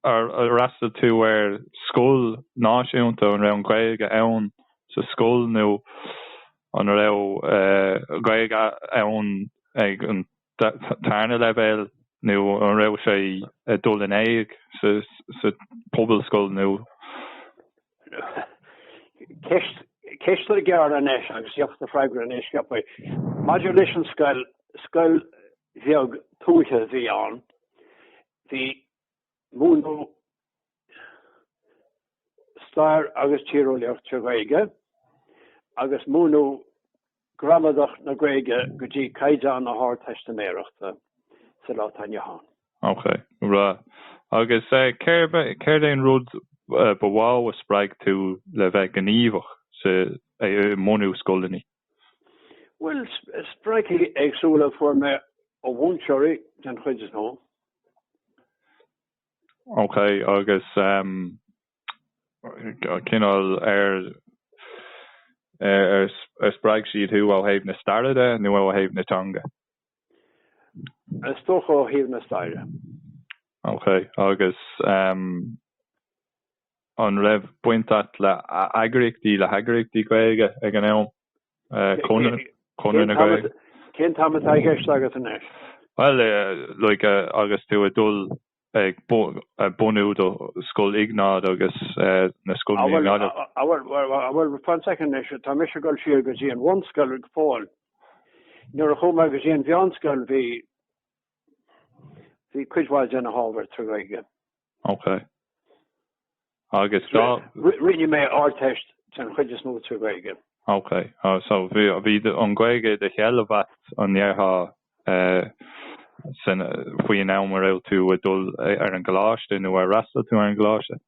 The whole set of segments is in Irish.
ar fhreastail tú ar scoil náisiúnta, an raibh an Ghaeilge ann sa scoil nó an raibh Gaeilge ann ag an tarna leibhéal nó an raibh sé ag dul in éag sa pobalscoil nó. Ceisteanna gearra anois agus deacair a fhreagairt anois. Maidir leis an scoil, scoil bheag tuaithe a bhí ann. Múineadh stair agus tíreolaíocht sa Ghaeilge agus múineadh gramadach na Gaeilge go dtí caighdeán na hardteistiméireachta sa lá atá inniu ann. Ok, bhreá. Agus céard é an rud ba mhó a spreag tú le bheith gníomhach sa mbunú scoileanna? Bhuel, spreagadh éagsúla a fuair mé ó mhúinteoirí den chuid is mó. Ok, agus cineál ar ar spreag siad thú ó thaobh na staire de nó ó thaobh na teanga? Is dócha ó thaobh na staire. Ok, agus An raibh baint a't le eagraíochtaí, le heagraíochtaí Gaeilge ag an am? Conradh na Gaeilge? Cén t-am atá i gceist agat anois? Bhuel, like, agus tú ag dul ag bunú do Scoil Iognáid agus na scoileanna i nGaillimh? Ah, bhuel, bhuel, fan soicind anois, tá mise ag dul siar go dtí an bhunscoil go fóill. Nuair a chuaigh mé go dtí an mheánscoil bhí, bhí cuid mhaith de na hábhair trí Ghaeilge. Ok. Agus rinne mé an Ardteist den chuid is mó trí Ghaeilge. Ok. So bhí an Ghaeilge ar do sheilbh a't an ndéarfá sin faoi an am a raibh tú ag dul ar an gcoláiste nó ar fhreastail tú ar an gcoláiste?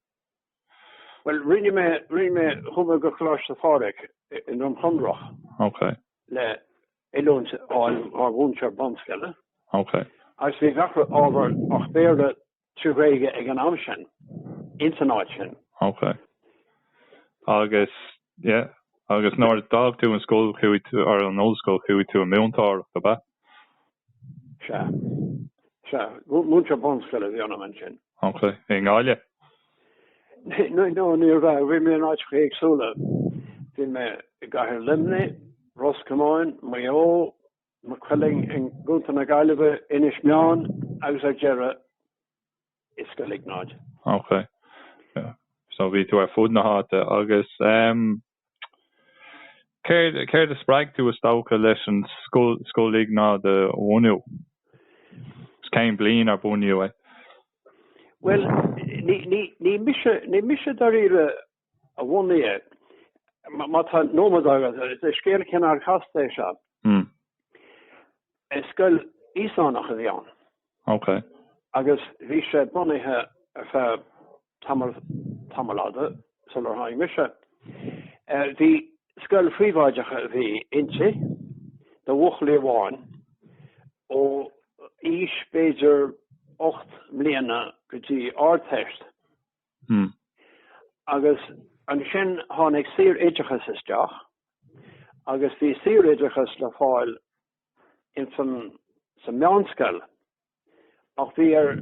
Bhuel rinne mé, rinne mé, chuaigh mé go Coláiste Phádraig i nDroim Chonrach. Ok. Le oiliúint a fháil mar mhúinteoir bunscoile. Ok. Agus bhí gach ábhar ach Béarla. trí Ghaeilge ag an am sin ins an áit sin. Ok. Agus, yeah. Agus nuair a d'fhág tú an scoil chuaigh tú, or an ollscoil, chuaigh tú i múinteoireacht, ab ea? Sea. Sea. Múinteoir bunscoile a bhí ionam ansin. Ok. I nGaillimh? No, no, ní raibh. Bhí mé in áiteacha éagsúla. Bhí mé i gCathair Luimnigh, Ros Comáin, Maigh Eo, Maigh Cuilinn i gcontae na Gaillimhe, Inis Meáin agus ar deireadh i Scoil Iognáid. Ok. So bhí tú ar fud na háite agus ehm céard, céard a spreag tú is dócha leis an scoil, Scoil Iognáid a bhunú? Is cén bliain ar bunaíodh é? Bhuel, ní, ní, ní mise, ní mise dáiríre a bhunaigh é. Má tá nóiméad agat, is scéal cineál casta é seo. Mm. Is scoil Íosánach a bhí ann. OK. Agus bhí sé bunaithe ar feadh tamall, tamall fada, sular tháinig mise. Eh, bhí scoil phríobháideach a bhí inti, do bhuachaillí amháin, ó aois b'fhéidir ocht mbliana go dtí Ardteist. Agus ansin tháinig saor-oideachas isteach agus bhí saor-oideachas le fáil ins an, sa meánscoil ach bhí ar,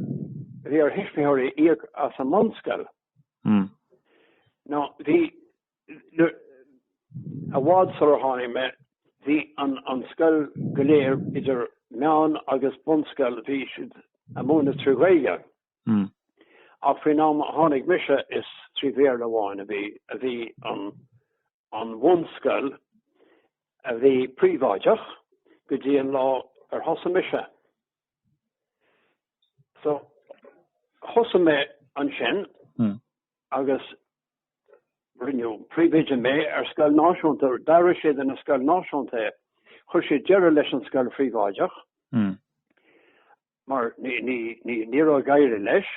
bhí ar thuismitheoirí íoc as an mbunscoil. Now bhí, nuair, i bhfad sular tháinig mé, bhí an, an scoil go léir idir meán agus bunscoil bhí siad a' múineadh trí Ghaeilge. Hm. Ach faoin am a tháinig mise is trí Bhéarla amháin a bhí, a bhí an, an bhunscoil a bhí príobháideach go dtí an lá ar thosaigh mise. So, thosaigh mé ansin agus rinneadh príomhoide mé ar scoil náisiúnta, d'athraigh siad ina scoil náisiúnta é. Chuir siad deireadh leis an scoil phríobháideach. mar ní raibh ag éirí leis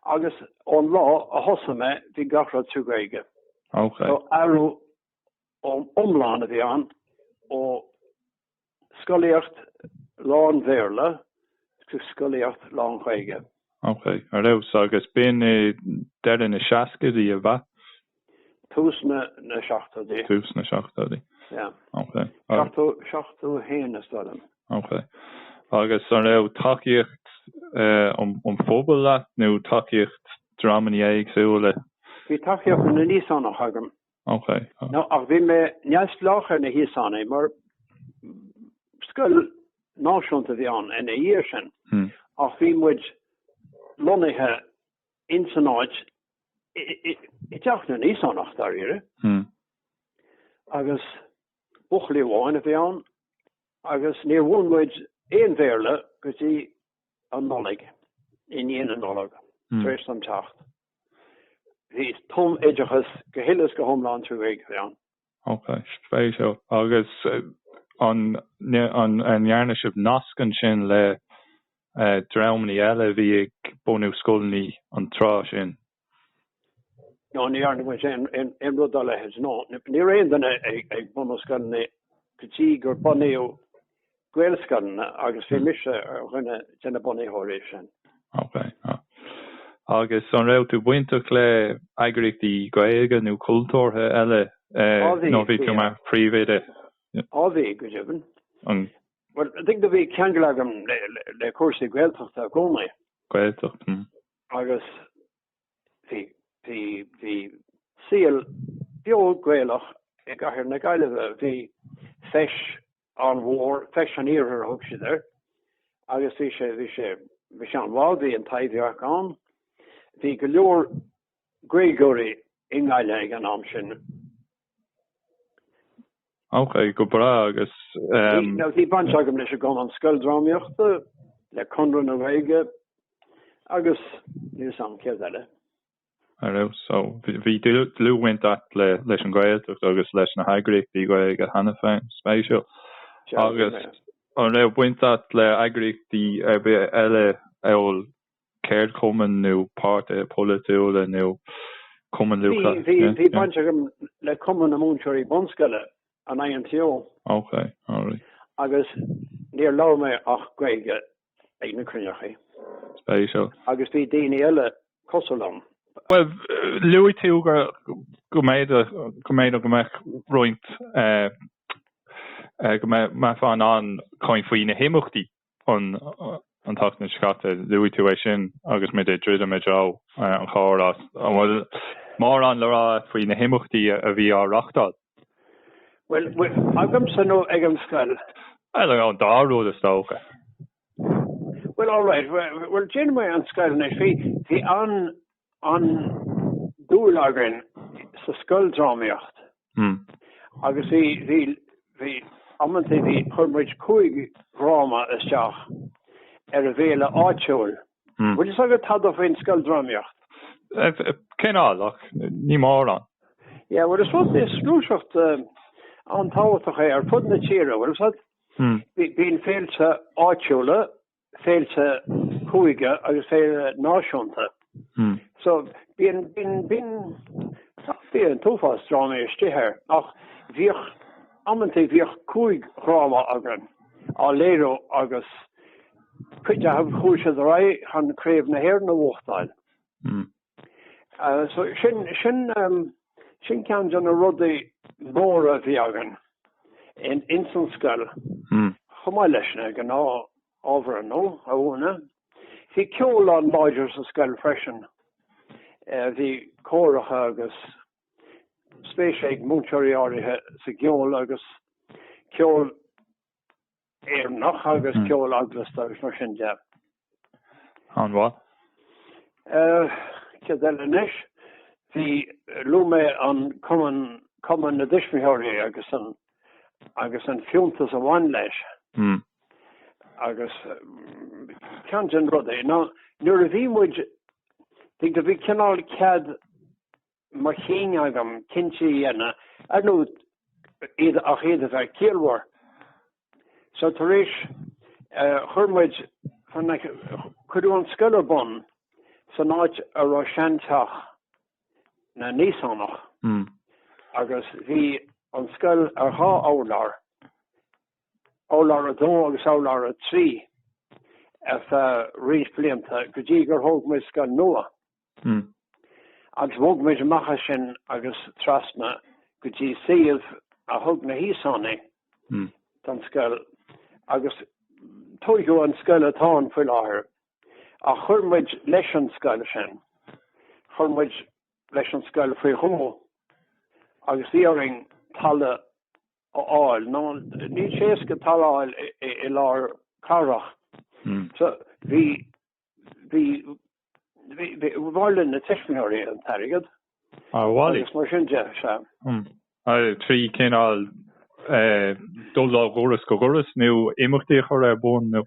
agus ón lá a thosaigh mé bhí gach rud trí Ghaeilge. So athrú iomlán a bhí ann ó scolaíocht lán-Bhéarla go scolaíocht lán-Ghaeilge. Ok, a raibh. So agus b'in i deireadh na seascaidí, ab ea? Tús na na seachtóidí. Tús na seachtóidí. Yeah. Okay. Seachtó seachtó a haon sílim. Okay. Agus an raibh tacaíocht eh, an um, an phobail leat nó tacaíocht dreamanna éagsúla? Bhí tacaíocht na nÍosánach agam. Okay. Now, ach bhí mé neamhspleách ar na hÍosánaigh mar scoil náisiúnta a bhí ann ina dhiaidh sin. Hmm. Ach bhí muid lonnaithe ins an áit i dteach na nÍosánach dáiríre agus buachaillí amháin a bhí ann agus níor mhúin muid aon Bhéarla go dtí an Nollaig, i ndiaidh na Nollag, tar éis dom teacht. Bhí tumoideachas go huile is go hiomlán trí Ghaeilge ann. Ok, spéisiúil. Agus an ndearna sibh nasc ansin le dreamannaí eile a bhí ag bunú scoileannaí an tráth sin? Ná ní dhearna muid aon rud dá leithéid, no. Ní raibh aon duine ag bunú scoileannaí go dtí gur bunaíodh Gaelscoileanna agus bhí mise ar dhuine de na bunaitheoirí sin. Ok. Agus an raibh tú bainteach le eagraíochtaí Gaeilge nó cultúrtha eile nó bhí tú mar phríomhoide? Á bhí, go deimhin. An. Bhuel, I think go bhí ceangal agam le cúrsaí Gaeltachta i gcónaí. Gaeltacht, hm. Agus bhí, bhí, bhí saol beo Gaelach i gcathair na Gaillimhe. Bhí feis an-mhór, feis an iarthair a thug siad air agus bhí sé, bhí sé, bhí sé an-mhaith, bhí an Taibhdhearc ann. Bhí go leor Gaeilgeoirí i nGaillimh ag an am sin. Ok, go breá, agus ehm. Bhí, bhí baint agam leis an gCumann Scoil Drámaíochta, le Conradh na Gaeilge agus níl fhios agam céard eile. Ar fheabhas. Bhí dlúthbhaint agat leis an Gaeltacht agus leis na heagraíochtaí Gaeilge cheana féin. Spéisiúil. Agus an raibh baint agat le eagraíochtaí ar bith eile amhail ceardchumainn nó páirtithe polaitiúla nó Cumann Lúthchleas Gael? Bhí baint agam le Cumann na Múinteoirí Bunscoile, an INTO. Agus níor labhair mé ach Gaeilge ag na cruinneachaí. Spéisiúil. Agus bhí daoine eile cosúil liom. Bhuel, luaigh tú go mb'fhéidir go mbeadh roinnt, go mbeifeá in ann caint faoi na himeachtaí an tseachtain seo caite, luaigh tú é sin agus muid ag druidim i dtreo an chairr. An bhfuil mórán le rá agat faoi na himeachtaí a bhí á reáchtáil? Bhuel, bhuel, agamsa nó ag an scoil? Bhuel, an dá rud is dócha. Bhuel, alright, bhuel, déanfaidh mé an scoil anois. Bhí, bhí an, an-dúil againn sa scoildrámaíocht. Hmm. Agus bhí, bhí, bhí, amantaí bhí, chuir muid cúig dhráma isteach ar an bhféile áitiúil. An bhfuil fhios agat tada faoin scoildrámaíocht? Cineál, ach ní mórán. Yeah, bhuel, is éard is gluaiseacht an-tábhachtach é ar fud na tíre, bhfuil fhios agat. Bíonn féilte áitiúla, féilte cúige agus féile náisiúnta. So, bíonn, bíonn, bíonn, bíonn an t-uafás drámaí istigh air. Ach bhíodh, amantaí bhíodh cúig dhráma againn á léiriú agus. Cuid acu ar éirigh leo dul ar aghaidh chun Craobh na hÉireann a bhuachtáil. So sin, sin, sin ceann de na rudaí móra a bhí againn in, ins an scoil. Chomh maith leis na gnáth-ábhair ar ndóigh a mhúineadh. Bhí ceol an-láidir sa scoil freisin. Bhí córacha agus spéis ag múinteoirí áirithe sa gceol agus ceol Éireannach agus ceol eaglasta agus mar sin de. An-mhaith. Céard eile anois? Bhí luaigh mé an cumann cumann na dtuismitheoirí agus an agus an fiúntas a bhain leis. Mm. Agus ceann de na rudaí ná nuair a bhí muid bhí cineál cead mo chinn agam cinntí a dhéanamh ar ndóigh ach iad a bheith ciallmhar. So tar éis chuir muid cuireadh an scoil ar bun san áit a raibh seanteach na nÍosánach agus bhí an scoil ar dhá urlár, urlár a dó agus urlár a trí ar feadh roinnt blianta go dtí gur thóg muid scoil nua. Hm. Agus bhog muid amach as sin agus trasna go dtí suíomh a thug na hÍosánaigh don scoil agus tógadh an scoil atá ann faoi láthair. Ach chuir muid leis an scoil sin. Chuir muid leis an scoil faoi dhó agus bhí orainn talamh a fháil. Nó níl sé éasca talamh a fháil i lár cathrach. So bhí Bhailigh na tuismitheoirí an t-airgead agus mar sin de. trí chineál dul ó dhoras go doras nó imeachtaí a chur ar bun nó.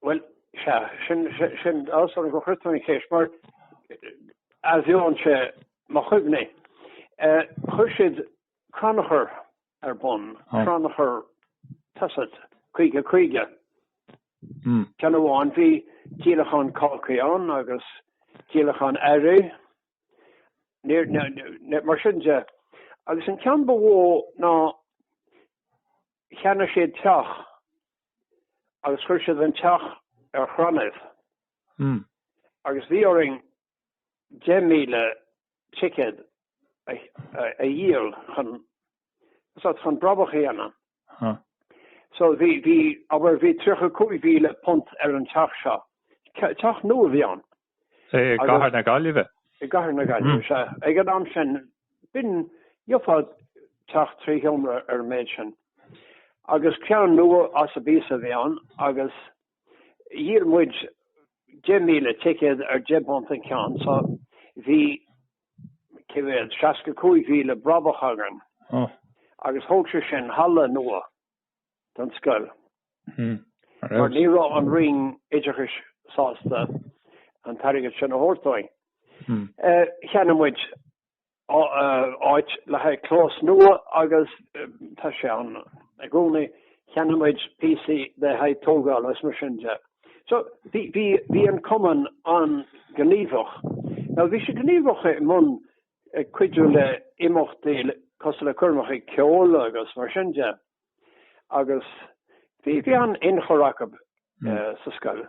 Bhuel, sea, tá áthas orm gur chuir tú an cheist mar athbheonn sé mo chuimhní. Chuir siad crannchur ar bun, crannchur tá a fhios agat, chuige. Ceann amháin bhí díolachán cácaí ann agus díolachán earraí, mar sin de. Agus an ceann ba mhó ná cheannaigh siad teach agus chuir siad an teach ar crannaibh. Agus bhí orainn 10,000 ticéad a dhíol chun chun brabach a dhéanamh. So bhí bhí abair bhí £35,000 ar an teach seo. Teach nua a bhí ann. I gcathair na Gaillimhe? I gcathair na Gaillimhe sea. Ag an am sin b'in gheofá teach trí sheomra ar an méid sin. Agus ceann nua as an bpíosa a bhí ann agus Dhíol muid 10,000 ticéad ar £10 an ceann so bhí, cé mhéad, 65,000 brabach againn. Agus thóg sin halla nua don scoil. Mar ní raibh an Roinn Oideachais sásta an t-airgead sin a thabhairt dúinn. Cheannaigh muid áit le haghaidh clós nua agus tá sé ann i gcónaí, cheannaigh muid píosaí le haghaidh tógála agus mar sin de. So bhí an cumann an-ghníomhach. Now bhí sé gníomhach i mbun cuidiú le imeachtaí cosúil le coirmeacha ceoil agus mar sin de. agus bhí an-ionchur acu sa scoil.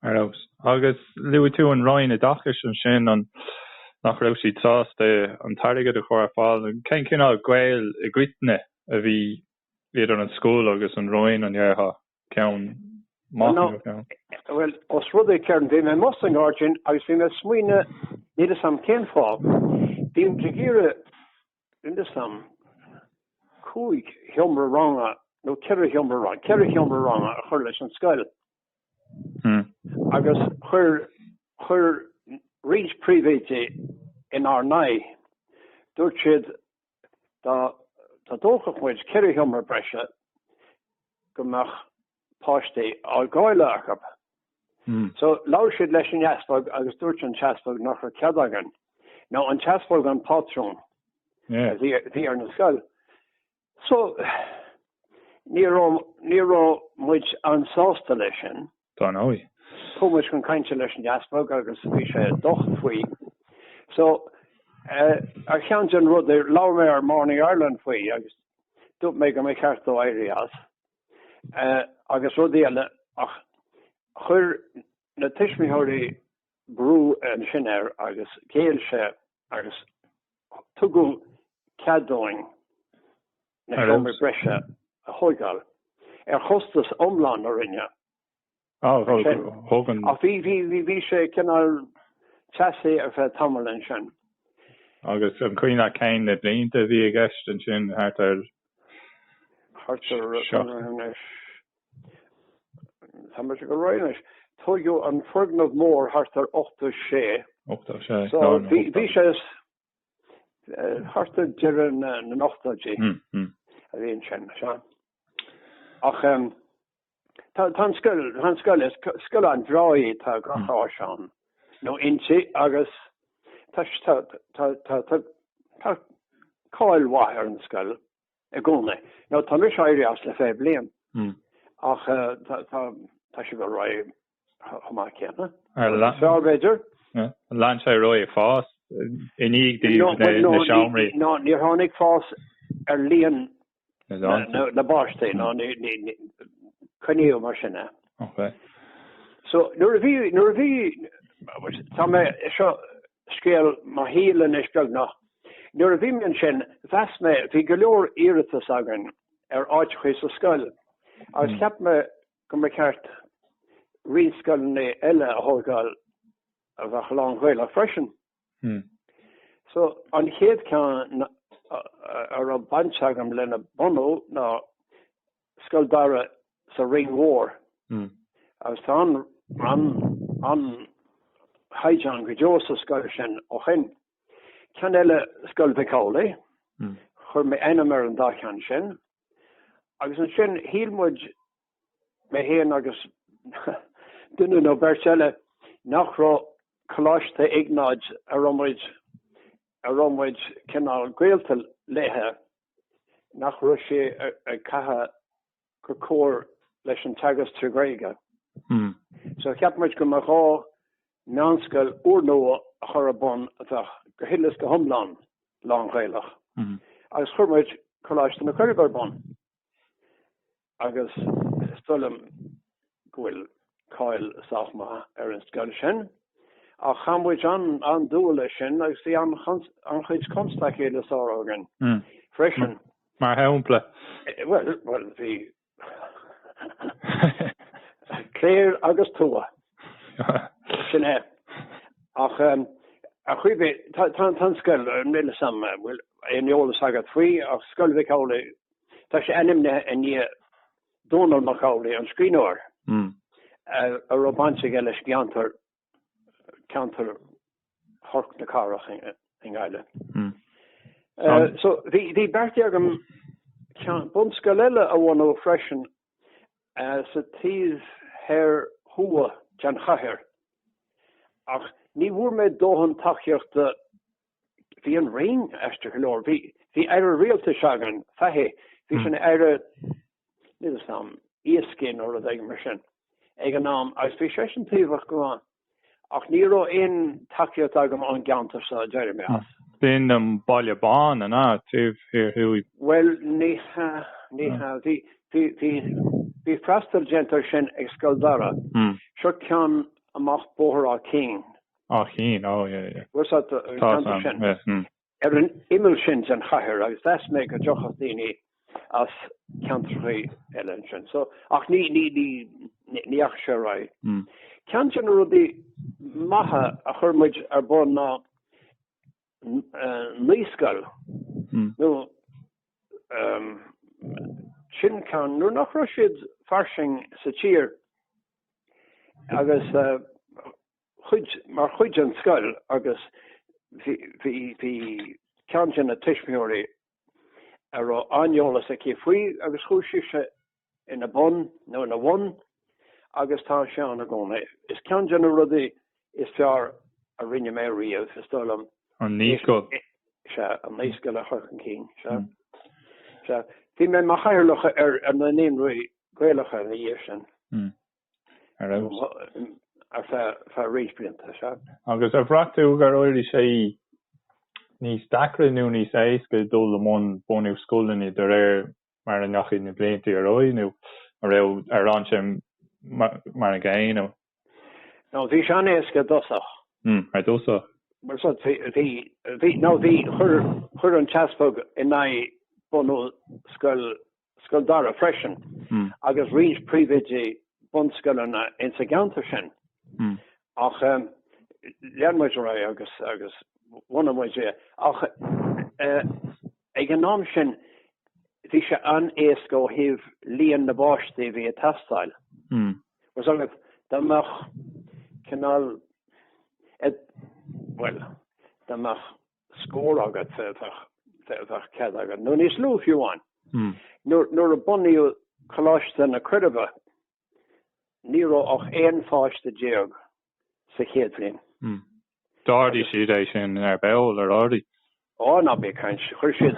Ar ndóigh. Agus luaigh tú an Roinn Oideachais ansin, an nach raibh siad sásta an t-airgead a chur ar fáil? Cén cineál gaol i gcoitinne a bhí idir an scoil agus an Roinn an dearcadh, ceann maith nó. Bhuel, os rud é ceann, bhí mé i mbosca an ghairdín agus bhí mé ag smaoineamh, níl 'fhios a'm cén fáth, bhí muid ag iarraidh in san am cúig sheomra ranga nó ceithre sheomra ranga, ceithre sheomra ranga a chur leis an scoil. Hmm. Agus chuir chuir roinnt príomhoidí in ár n-aghaidh. Dúirt siad dá dtógfadh muid ceithre sheomra breise go mbeadh páistí á gcailleadh acu. So, labhair siad leis an easpag agus dúirt an t-easpag nach raibh cead againn. Now, an t-easpag an pátrún a bhí ar na scoil. So, ní raibh, ní raibh muid an-sásta leis sin. Dar ndóigh. Chuaigh muid chun cainte leis an easpag agus bhí sé docht faoi. So, ar cheann de na rudaí, labhair mé ar Morning Ireland faoi agus dúirt mé go mba cheart dó éirí as. agus rudaí eile ach chuir na tuismitheoirí brú ansin air agus ghéill sé agus tugadh cead dúinn na seomraí breise a thógáil ar chostas iomlán na Roinne. Bhí sé cineál teasaí ar feadh tamaill ansin. Agus an cuimhin leat cén na blianta a bhí i gceist ansin, thart ar? Thart ar, tá mé ag goil anois, tóigeadh an foirgneamh mór thart ar 86. 86, so bhí sé, Thart ar deireadh na n-ochtóidí a bhí ansin. Ach tá an scoil, tá an scoil, scoil an-bhreá í tá gach áis ann nó inti agus tá cáil mhaith ar an scoil. i gcónaí. Nó tá mise éirithe as le fiche bliain ach tá sé ag dul ar aghaidh chomh maith céanna. Ar lean sé b'fhéidir? Ar lean sé ar aghaidh ag fás i ndiaidh daoibh na seomraí? No, níor tháinig fás ar líon na bpáistí nó coinníodh mar sin é. Ok. So nuair a bhí nuair a bhí tá mé seo scéal mo shaoil anois beagnach. Nuair a bhí mé ansin, mheas mé, bhí go leor iarratas againn ar áiteachaí sa scoil agus cheap mé go mba cheart roinnt scoileanna eile a thógáil a bheadh lán-Ghaelach freisin. So, an chéad ceann a raibh baint agam lena bhunú ná Scoil Dara sa Rinn Mhór agus tá an-chaighdeán go deo sa scoil sin ó shin. Ceann eile Scoil Mhic Amhlaigh, chuir mé ainm ar an dá cheann sin agus ansin shíl muid, mé fhéin agus duine nó beirt eile, nach raibh Coláiste Iognáid, a raibh muid cineál gaolta léithe, nach raibh sé ag caitheamh go cóir leis an teagasc trí Ghaeilge. So cheap muid go mba ghá meánscoil úrnua a chur ar bun a bheadh go huile is go hiomlán lán-Ghaelach agus chuir muid Coláiste na Coiribe ar bun. Agus is dóigh liom go bhfuil cáil sách maith ar an scoil sin. Ach chaith muid an-dua leis sin agus bhí an-chuid constaicí le sárú againn freisin. Mar shampla? Bhuel, bhí cléir agus tuath. Sin é. Ach ar chaoi ar bith, tá an scoil, níl fhios a'm an bhfuil aon eolas agat faoi ach Scoil Mhic Amhlaigh Tá sé ainmnithe i ndiaidh Dónall Mac Amhlaigh, an scríbhneoir, a raibh baint aige leis gceantar ceantar Chnoc na Cathrach i nGaillimh. So bhí beartaithe agam bunscoil eile a bhunú freisin sa taobh thoir thuaidh den chathair ach ní bhfuair mé dóthain tacaíochta bhí an Roinn aisteach go leor. Bhí, bhí aire rialtais againn, Fahy, bhí sin hmm. aire, níl fhios a'm, iascaí nó rud éigin mar sin, ag an am, agus bhí sé sin taobhach go maith. Ach ní raibh aon tacaíocht agam ón gceantar sa deireadh d'éirigh mé as. Hmm. B'in an Baile Bán an taobh thoir thuaidh. Well, ní hea, ní hmm. hea, bhí, bhí, bhí, bhí freastal déanta air sin ag Scoil Dara. Hmm. Seo ceann amach Bóthar Áth Cinn Áth Cinn, oh yeah, yeah. Bhfuil sé do cheantar sin? Tá, yeah, mm. Ar an imeall sin den chathair agus mheas mé go dtiocfadh daoine as ceantrachaí eile ansin. So, ach ní, ní, ní, ní dheachaigh sé ar aghaidh. Mm. Ceann de na rudaí maithe a chuir muid ar bun ná naíscoil. Mm. Nó, um, sin ceann, nuair nach raibh siad fairsing sa tír agus, uh, chuid mar chuid den scoil agus bhí bhí bhí ceann de na tuismitheoirí a raibh an-eolas aici faoi agus chuaigh sise ina bun nó ina bhun agus tá sé ann i gcónaí. Is ceann de na rudaí is fearr a rinne mé riamh is dóigh liom. An naíscoil. Sea, an naíscoil a chur chun cinn, sea. Sea, bhí mé mar chathaoirleach ar na naíonraí Gaelacha ina dhiaidh sin. Ar feadh roinnt blianta, sea. Agus ar bhraith tú gur éirigh sé níos deacra nó níos éasca dul i mbun bunú scoileanna de réir mar a ndeachaigh na blianta ar aghaidh nó an raibh, ar fhan sé mar an gcéanna? No, bhí sé an-éasca i dtosach. Mm, ar dtosach. Mar seo, bhí, bhí, no bhí, chuir, chuir an tEaspag in aghaidh bunú scoil Scoil Dara freisin agus roinnt príomhoidí bunscoileanna insa gceantar sin. Ach lean muid ar aghaidh agus bhunaigh muid é. Ach ag an am sin bhí sé an-éasca ó thaobh líon na bpáistí a bhí ag teastáil. Bhfuil fhios agat, dá mbeadh cineál, bhuel, dá mbeadh scór agat bheadh cead agat, nó níos lú fiú amháin. Nuair a bunaíodh Coláiste na Coiribe ní raibh ach 11 pháiste sa chéad bhliain. D'ardaigh siad é sin ar ball, ar ardaigh? Ó ná bí ag caint. Chuir siad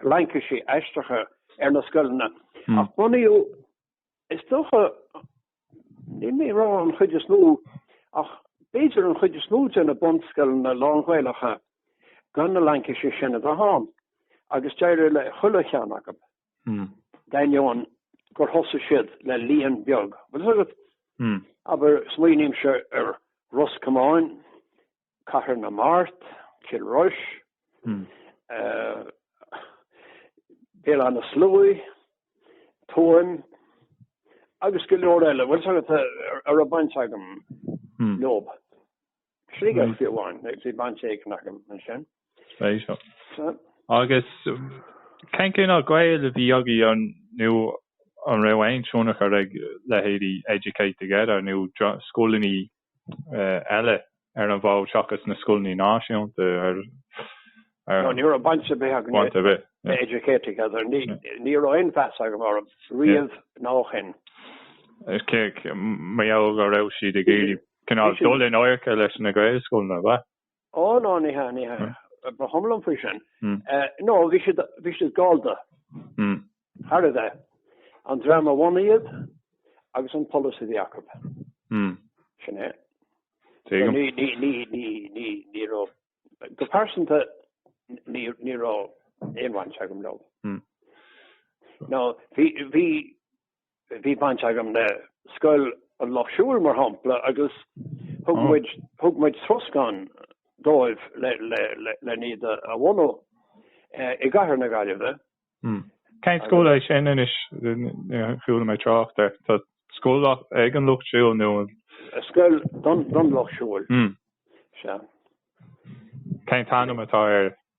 laincisí aisteacha ar na scoileanna. Ach bunaíodh Is dócha, níl mé ag rá an chuid is mó, ach b'fhéidir an chuid is mó de na bunscoileanna lán-Ghaelacha gan na laincisí sin a bheith ann, agus d'éirigh le chuile cheann acu, d'ainneoin gur thosaigh siad le líon beag, bhfuil fhios agat? Abair, smaoinímse ar Ros Comáin, Cathair na Mart, Cill Rois, Béal Átha na Sluaighe, Tuaim agus go leor eile, bhfuil fhios agat, a raibh baint agam leob. Sligeach fiú amháin, bhí baint éigin agam ansin. Agus cén cineál gaol a bhí agaibh nó an raibh aon tionchar ag leithéidí Educate Together nó scoileanna eile ar an bhfód seachas na scoileanna náisiúnta ar chor. Ní raibh baint ar bith agam le Educate Together, ní raibh aon mheas agam orthu riamh ná ó shin. Cé go mb'fhéidir go raibh siad ag iarraidh cineál dul in adharca leis na Gaelscoileanna, ab ea? Ó no, ní hea, ní hea. Hm. Ba chuma liom faoi sin. Hm. Eh, no, bhí siad, bhí siad gallda. Hm. Thar a bheith. An dream a bhunaigh iad agus an polasaí a bhí acu. Hm. Sin é. Taobh So, amuigh. ní, ní, ní, ní, ní, ní raibh, go pearsanta, ní, ní raibh aon bhaint agam leo. Hm. Now, bhí, bhí, Bhí baint agam le Scoil an Lucht Siúil, mar shampla, agus thug muid, thug muid troscán dóibh le iad a bhunú i gcathair na Gaillimhe. Cén scoil é sin anois? Chuala mé trácht air. Tá scoil ag an Lucht Siúil nó an. Scoil don Lucht Siúil, sea. Cén t-ainm atá air?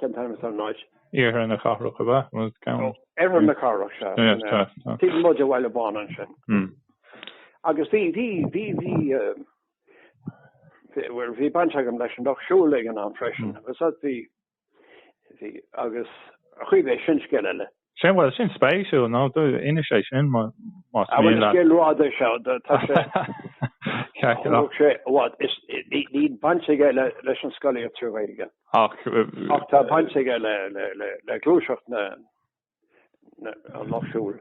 Cén t-ainm is ar an áit? Oirthear na Cathrach ab ea? Oirthear na Cathrach, sea. Taobh amuigh de Bhaile Bán ansin. Agus bhí, bhí, bhí, bhí, bhuel, bhí baint agam leis an Lucht Siúil ag an am freisin. Agus, bhí, bhí, agus, cibé, sin scéal eile. Sin, bhuel, sin spéisiúil, now, inis é sin, más mian leat. Bhuel, is gile rud é seo, tá sé, chonaic sé i bhfad, is níl baint aige leis an scolaíocht trí Ghaeilge ach tá baint aige le gluaiseacht na, an lucht siúil.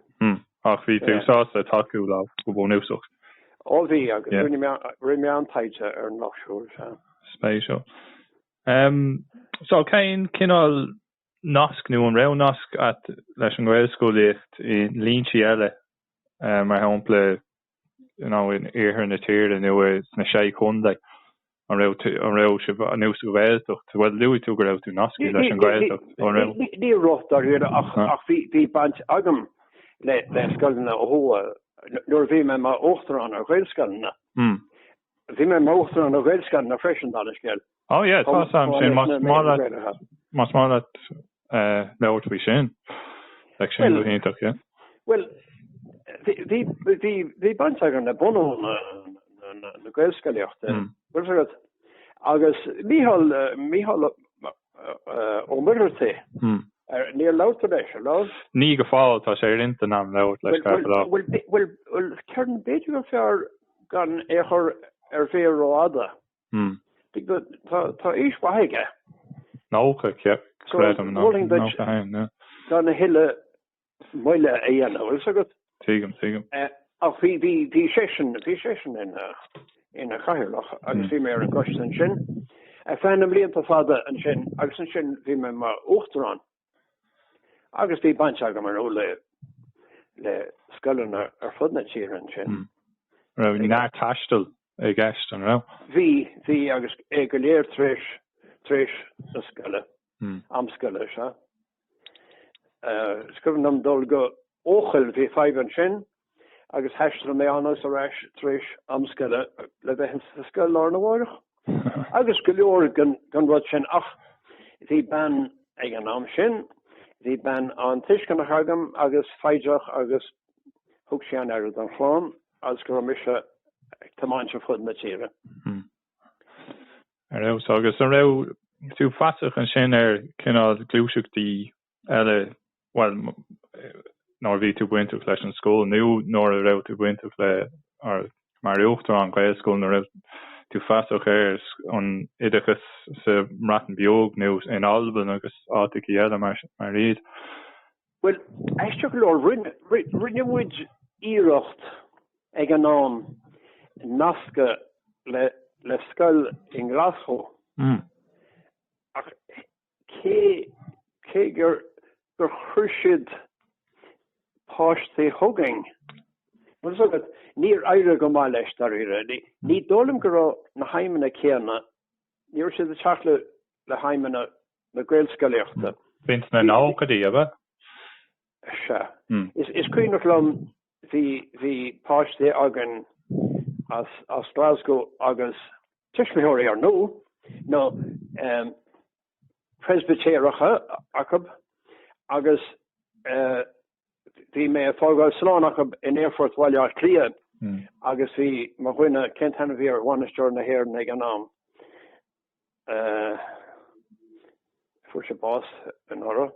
Ach bhí tú sásta tacú leo go bunúsach? Ó bhí, agus rinne mé, rinne mé an-taighde ar an lucht siúil. Spéisiúil. So, cén cineál nasc nó an raibh nasc a't leis an ngaelscolaíocht i ndlínsí eile mar shampla know in iarthar na tíre nó sna sé chontae? An raibh tú, an raibh sibh nó sa ghaeltacht? Bhuel luaigh tú go raibh tú nascaithe leis an ghaeltacht, an raibh? Ní raibh dáiríre ach ach bhí baint agam le le scoileanna ó thuaidh nuair a bhí mé mar uachtarán ar ghaelscoileanna. Bhí mé mar uachtarán ar ghaelscoileanna freisin dála an scéil. Oh yeah tá's a'm sin más maith leat más maith leat labhairt faoi sin like sin go hiontach yeah. Bhuel bhí bhí bhí baint agam le bunú na na Gaelscolaíochta muireann agat agus Mícheál Mícheál Ó Muircheartaigh ar níor labhairt tú leis ar nó? Ní go fóill tá sé ar intinn a'm labhairt leis fear fadó. Bhuel bhuel bhuel ceann b'fhéidir gur fearr gan é a chur ar mhéar rófhada Mm. Tá aois mhaith aige. Nócha, creidim. Nócha haon, yeah. Tá na huile moille a dhéanamh, bhfuil 's agat? Tuigim, tuigim. Ach bhí seisean, bhí seisean ina chathaoirleach agus bhí mé ar an gcoiste ansin feadh na mblianta fada ansin agus ansin bhí mé mar uachtarán. Agus bhí baint agam ar ndóigh le scoileanna ar fud na tíre ansin. Raibh neart taistil i gceist, an raibh? Bhí, bhí agus é go léir tréis, tréis na scoile, am scoile, sea. Is cuimhin liom dul go Eochaill, bhí fadhb ansin, agus thaistil mé ann agus ar ais tar éis am scoile le bheith ins an scoil lá arna mháireach agus go leor den rud sin ach bhí bean ag an am sin bhí bean an-tuisceanach agam agus foighdeach agus thug sí an-aire don chlann agus go raibh mise ag tiomáint ar fud na tíre. Hmm. Ar fheabhas. Agus an raibh tú feasach ansin ar cineál gluaiseachtaí eile, bhuel, nuair a bhí tú bainteach leis an scoil nó nuair a raibh tú bainteach le, mar uachtarán Ghaelscoileanna, an raibh tú feasach ar an oideachas sa mBreatain Bheag nó in Albain agus áiteachaí eile mar iad? Bhuel, aisteach go leor, rinne muid iarracht ag an am nascadh le scoil in Glasgow ach cé gur chuir siad páistí chugainn, bhfuil 's agat, níor éirigh go maith leis, dáiríre. Ní dóigh liom go raibh na haidhmeanna céanna, ní raibh siad ag teacht le haidhmeanna na gaelscolaíochta. B'in sna nóchaidí, ab ea? Sea. Is cuimhneach liom Bhí bhí páistí againn as as Glasgow agus tuismitheoirí ar ndóigh nó eh Preispitéireacha acu agus eh bhí mé ag fágáil slán acu in aerfort Bhaile Átha Cliath agus bhí mo dhuine cén t-ainm a bhí air, bainisteoir na hÉireann ag an am eh fuair sé bás anuraidh.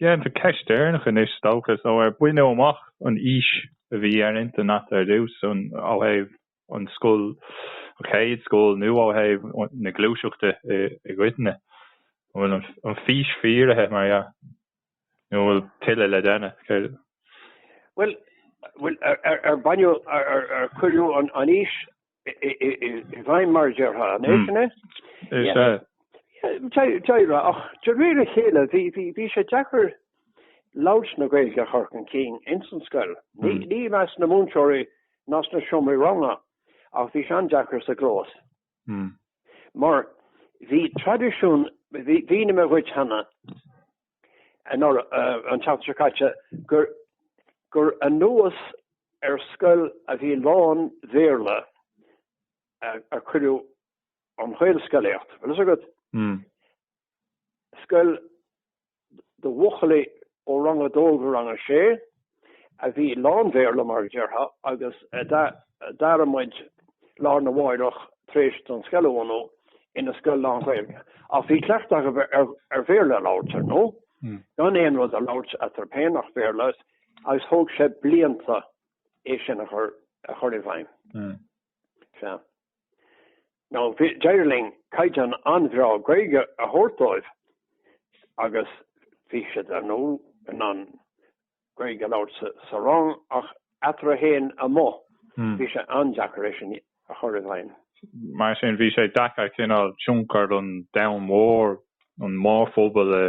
Déanfar ceist dheireanach anois, is dócha, so ar baineadh amach an fhís a bhí ar intinn agat ar dtús ó thaobh an scoil, an chéad scoil nó ó thaobh na gluaiseachta i gcoitinne? An bhfuil an fís fíoraithe, mar dhea, nó an bhfuil tuilleadh le déanamh? Bhuel, ar baineadh, ar cuireadh an fhís i bhfeidhm mar a déarfá an é, sin é? Is ea. Deireadh, ach de réir a chéile bhí sé deacair labhairt na Gaeilge a chur chun cinn ins an scoil. Ní i measc na múinteoirí ná sna seomraí ranga ach bhí sé an-deacair sa gclós. Mar bhí traidisiún, bhí, mar a dúirt mé cheana, an tseachtain seo caite, gur gur anuas ar scoil a bhí lán-Bhéarla a cuireadh an Ghaelscolaíocht. Bhfuil a fhios agat? Scoil do bhuachaillí ó rang a dó go rang a sé. a bhí lán-Bhéarla, mar a déarfá, agus d'aire muid lár na mháireach tar éis don scoil a bhunú ina scoil lán-Ghaeilge. Ach bhí cleachtadh acu ar Bhéarla a labhairt, ar ndóigh, gan aon rud a labhairt eatarthu féin ach Béarla agus thóg sé blianta é sin a chur i bhfeidhm. Sea. Now d'éirigh linn caighdeán an-bhreá Gaeilge a thabhairt dóibh agus bhí siad ar ndóigh in ann Gaeilge a labhairt sa, sa rang ach eatarthu fhéin amuigh. Hmm. Bhí sé an-deacair é sin a chur i bhfeidhm. Mar sin bhí sé deacair cineál tionchar an domhain mhóir, an mórphobal a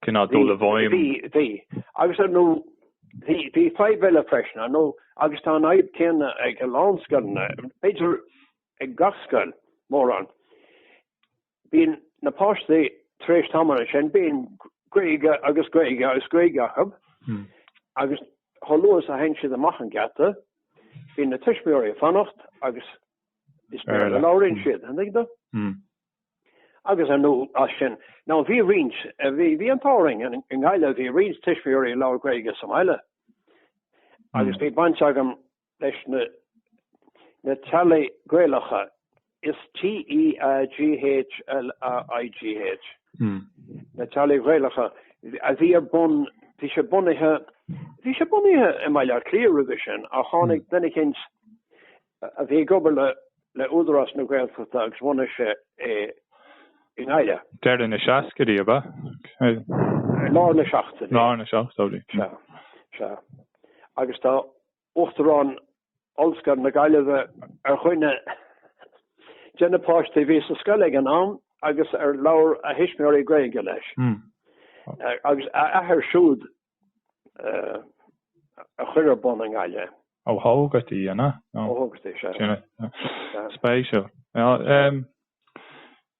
Cineál dul i bhfeidhm? Bhí. Agus ar ndóigh bhí, bhí fadhb eile freisin, ar ndóigh, agus tá an fhadhb céanna ag a lán scoileanna, b'fhéidir ag gach scoil, mórán. Bíonn na páistí tar éis tamaill ansin, bíonn Gaeilge agus Gaeilge agus Gaeilge acu agus chomh luath is a théann siad amach an geata, bíonn na tuismitheoirí ag fanacht agus is Béarla a labhraíonn siad, an dtuigeann tú? Agus ar ndóigh as sin, now bhí roinnt, bhí, bhí an t-ádh orainn i nGaillimh, bhí roinnt tuismitheoirí ag labhairt Gaeilge sa mbaile. Agus bhí baint agam leis na, na teaghlaigh Gaelacha, is T-e-a-g-h-l-a-i-g-h, na teaghlaigh Ghaelacha a bhí ar bun, bhí sé bunaithe, bhí sé bunaithe i mBaile Átha Cliath roimhe sin ach tháinig duine eicínt a bhí ag obair le Údarás na Gaeltachta agus bhunaigh sé é i nGaillimh. Deireadh na seascaidí, ab ea? Lár na seachtóidí. Lár na seachtóidí. Sea. Sea. Agus tá Uachtarán Ollscoil na Gaillimhe ar dhuine de na páistí a bhí sa scoil ag an am agus ar labhair a thuismitheoirí Gaeilge leis. Agus a athair siúd a chuir ar bun i nGaillimh. Ó Tógartaigh, an ea? Ó Tógartaigh, sea. Céanna. Spéisiúil.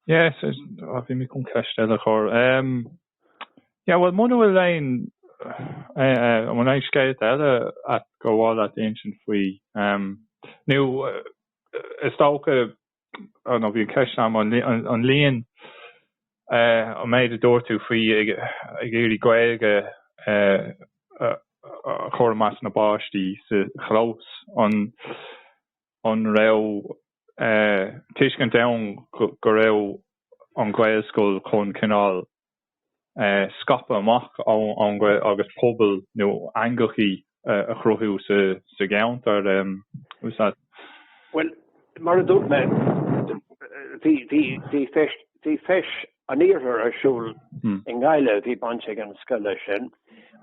Yes, ah bhí mé chun ceist eile a chur. Yeah, bhuel muna bhfuil aon an bhfuil aon scéalta eile atá, go bhfuil agat ansin faoi nó is dócha nó bhí ceist agam an líon, an méid a dúirt tú faoi ag iarraidh Gaeilge a chur i measc na bpáistí sa chlós, an raibh tuiscint ann go raibh an Ghaelscoil chun cineál scaipeadh amach ón scoil agus pobail nó eangachaí a chruthú sa gceantar. Úsáid. Bhuel, mar a dúirt mé, bhí Feis an Iarthair ar siúl i nGaillimh a bhí baint ag an scoil leis sin,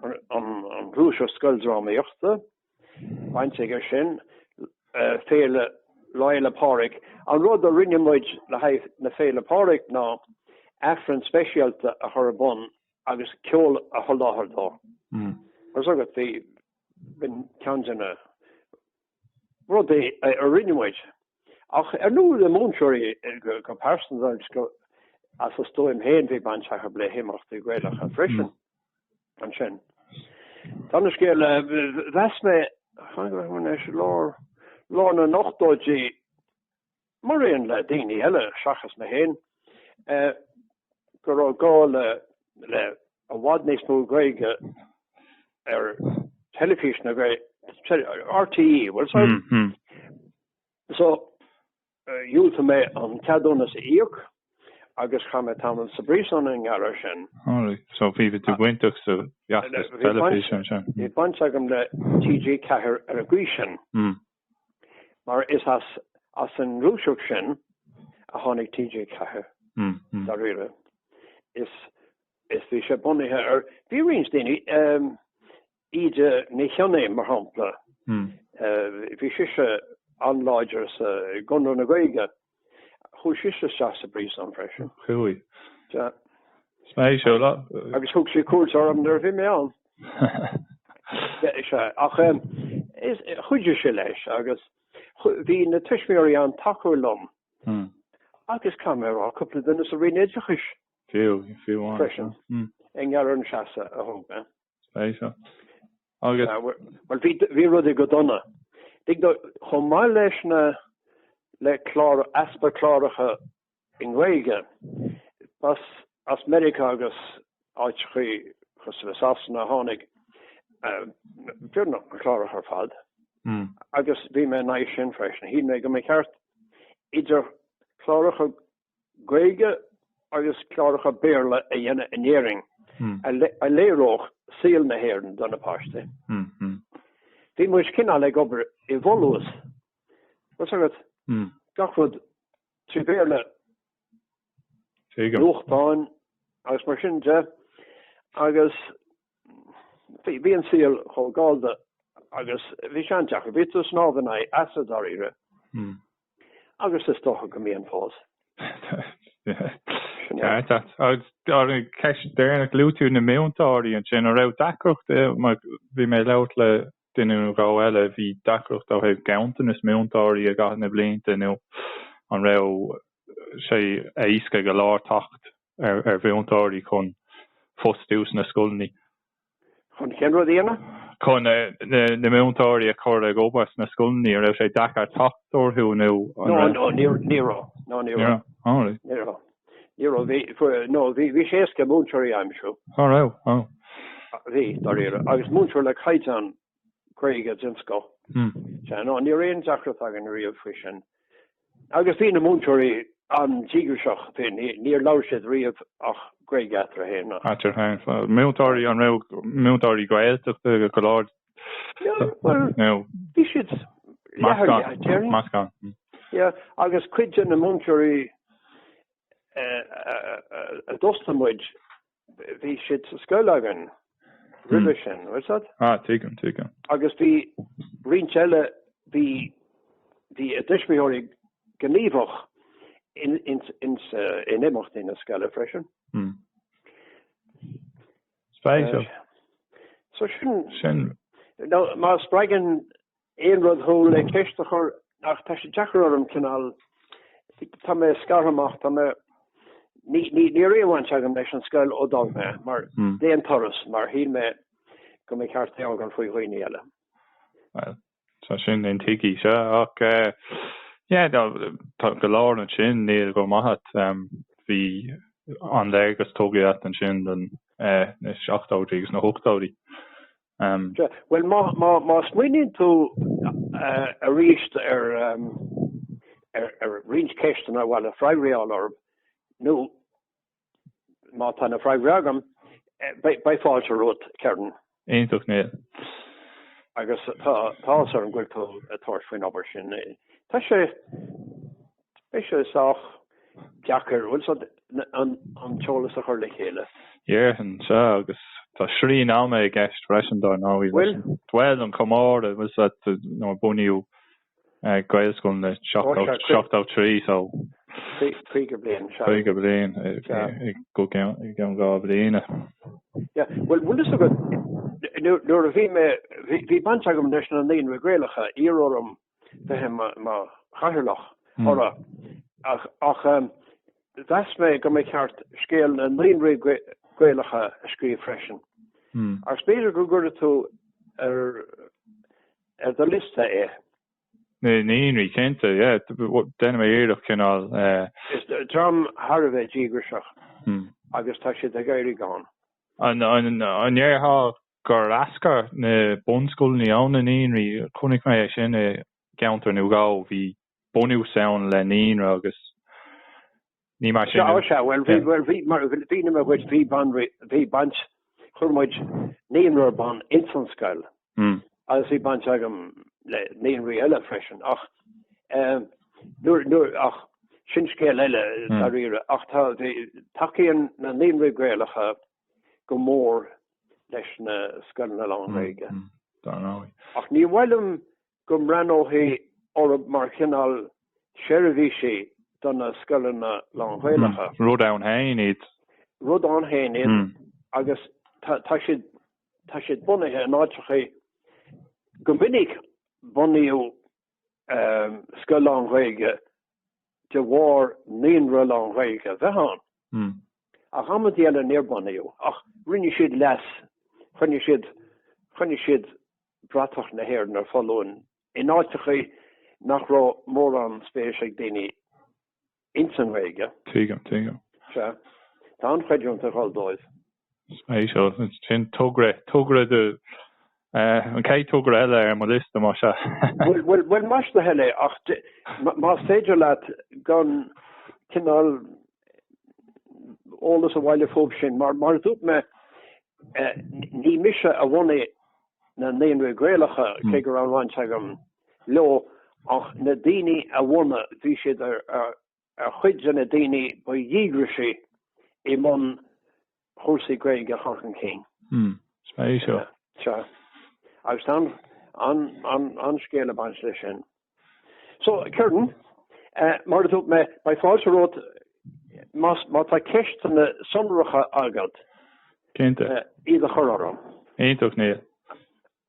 an Ghluaiseacht Scoildrámaíochta. Baint aici leis sin, Féile Lá Fhéile Pádraig, an rud a rinne muid le haghaidh na Féile Pádraig ná aifreann speisialta a chur ar bun agus ceol a sholáthar dó. Agus agat bhí b'in ceann de na rudaí a rinne muid. Ach ar ndóigh le múinteoirí go pearsanta agus as a stuaim féin bhí baint acu b'fhéidir le himeachtaí Gaelacha freisin. Ansin taobh eile den scéal eh, mheas mé i lár lár na n-ochtóidí mar aon le daoine eile seachas mé féin eh, go raibh gá le le i bhfad níos mó Gaeilge ar teilifís na Gaeilge RTÉ, bhuel so, mm -hmm. so dhiúltaigh mé an ceadúnas a íoc agus chaith mé tamall sa bpríosún i ngeall air sin. Alright, so bhí tú bainteach sa bhfeachtas teilifíse ansin? Bhí baint agam le TG4 ar an gcaoi sin mar is as an ngluaiseacht sin a tháinig TG4 dáiríre is bhí sé bunaithe ar, bhí roinnt daoine, Íte Ní Chionnaith, mar shampla, bhí sise an-láidir sa gConradh na Gaeilge. Chuaigh sise isteach sa bpríosún freisin. Chuaigh. Agus thug sí cuairt orm nuair a bhí mé ann. Ach chuidigh sí leis agus bhí na tuismitheoirí an-tacúil liom agus caithfidh mé a rá cúpla duine sa Roinn Oideachais freisin i ngeall ar an seasamh a thóg mé. Bhuel bhí rudaí go dona. Chomh maith leis na le clár easpa cláracha i nGaeilge ba as Meiriceá agus áiteachaí cosúil le Sasana tháinig na cláracha ar fad agus bhí mé in aghaidh sin freisin. Shíl mé go mba cheart idir chláracha Gaeilge agus cláracha Béarla a dhéanamh in Éirinn a léireodh saol na hÉireann do na páistí. Bhí muid cineál ag obair i bhfolús, bhfuil a fhios agat, gach rud trí Bhéarla, nuachtáin agus mar sin de, agus bhí an saol chomh gallda agus bhí sé an-deacair. Bhí tú snámh in aghaidh easa dáiríre. Agus is dócha go mbíonn fós. Sin é. Ceart agat. Agus an ceist deireanach, luaigh tú na múinteoirí ansin. An raibh deacracht, bhí mé ag labhairt le duine nó dhó eile, bhí deacracht ó thaobh ganntanas múinteoirí i gcaitheamh na blianta nó an raibh sé éasca go leor teacht ar mhúinteoirí chun fostú sna scoileanna? chun cén rud a dhéanamh? chun na múinteoirí a chur ag obair sna scoileanna? An raibh sé deacair teacht orthu nó an raibh? No, no, níor, ní raibh. No, ní raibh. All right. Ní raibh. Ní raibh. Bhí, no, bhí, bhí sé éasca múinteoirí a aimsiú. All right. Oh. Bhí, dáiríre. Agus múinteoirí le caighdeán Gaeilge den scoth. Sea, no ní raibh aon deacracht againn riamh faoi sin. Agus bhí na múinteoirí an-díograiseach féin, níor labhair siad riamh ach Gaeilge eatarthu féin, ach. Eatarthu féin, so múinteoirí, an raibh múinteoirí Gaeltachta go leor? Bhuel, bhí siad leath ar leath déarfainn. Meascán. Yeah, agus cuid de na múinteoirí a d'fhostaigh muid Bhí siad sa scoil againn roimhe sin, bhfuil a fhios agat? Ah, tuigim, tuigim. Agus bhí roinnt eile, bhí, bhí a dtuismitheoirí gníomhach in, in, in, in imeachtaí na scoile freisin. Hmm. Spéisiúil. So sin, Sin, no má spreagann Aon rud thú le ceist a chur ach tá sé deacair orm cineál tá mé scartha amach tá mé ní ní ní raibh aon bhaint agam leis an scoil ó d'fhág mé mar hmm. d'aon turas mar shíl mé go mba cheart é a fhágáil faoi dhaoine eile. Well, tá sin intuigthe sea ach eh, yeah, no, tá go leor ansin níl go raibh maith agat um, bhí an léargas tugtha agat ansin don eh, na seachtóidí agus na hochtóidí. Um. Bhuel má, má, má smaoiníonn tú uh, arís ar, um, ar, ar roinnt ceisteanna a bhfuil a bhfreagraí uaim, nó má tá na freagraí agam, eh, beidh fáilte romhat, Ciarán. Iontach, Niall. Agus tá, tá áthas orm go bhfuil tú ag tabhairt faoin obair sin. Tá sé, Beidh sé sách deacair an t-eolas a chur le chéile. Déarfainn, sea, agus tá srian ama i gceist freisin, dar ndóigh. Bhfuil? Bhuel, an comóradh, bhfuil sa, nuair a bunaíodh Gaelscoileanna, seachtó trí, so. Caoga bliain, sea. Caoga bliain, i gceann dhá bhliain. Yeah, bhuel, bhfuil fhios agat, nuair a bhí mé, bhí baint agam leis na Naíonraí Gaelacha, iarradh orm. bheith i mo chathaoirleach orra ach mheas mé go mba cheart scéal na naíonraí Gaelacha a scríobh freisin. Agus b'fhéidir go gcuirfidh tú ar do liosta é. Na naíonraí, cinnte, yeah. Déanfaidh mé iarracht cineál. Is dream thar a bheith díograiseach agus tá siad ag éirí gann. An ndéarfá gur eascair na bunscoileanna ó na naíonraí. Chonaic mé é sin i gceantar nó dhó. Bhí bunús ann le naíonra agus ní mar sin é. Sea, sea, bhuel, mhínigh mé dhuit, bhí baint, chuir muid naíonra ar bun ins an scoil agus bhí baint agam le naíonraí eile freisin ach nuair, nuair, ach sin scéal eile dáiríre ach tá, tacaíonn na naíonraí Gaelacha, go mór leis na scoileanna lán-Ghaeilge. Ach ní maith liom go mbreathnófaí orthu mar chineál seirbhísí do na scoileanna lán-Ghaelacha. Rud ann féin iad. Rud ann féin iad agus tá siad, tá siad bunaithe in áiteacha, go minic bunaíodh scoil lán-Ghaeilge de bharr naíonra lán-Ghaeilge a bheith ann. Ach amantaí eile níor bunaíodh ach rinne siad leas, choinnigh siad, choinnigh siad bratach na hÉireann ar foluain in áiteacha nach raibh mórán spéis ag daoine ins an Ghaeilge. Tuigim, tuigim. Sea, tá an-chreidiúint ag dhul dóibh. Sea, so sin. Togra, togra do, eh, an chéad togra eile ar mo liosta más ea. Bhuel, bhuel, bhuel, ní maith liom a thuilleadh, ach de, más féidir leat aon chineál eolas a bhailiú fúthu sin, mar, mar a dúirt mé, eh, ní mise a bhunaigh na naíonraí Gaelacha, cé go raibh an-bhaint agam leo, ach na daoine a bhunaigh, bhí siad ar, ar, ar chuid de na daoine ba dhíograisí i mbun chúrsaí Gaeilge a chur chun cinn. Hm, is maith é seo. Sea, agus tá an scéal ag baint leis sin. So, Kieran, mar a dúirt mé, beidh fáilte romhat má tá ceisteanna sonracha agat iad a chur orm. Iontach, Niall.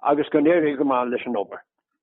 Agus go n-éirí go maith leis an obair.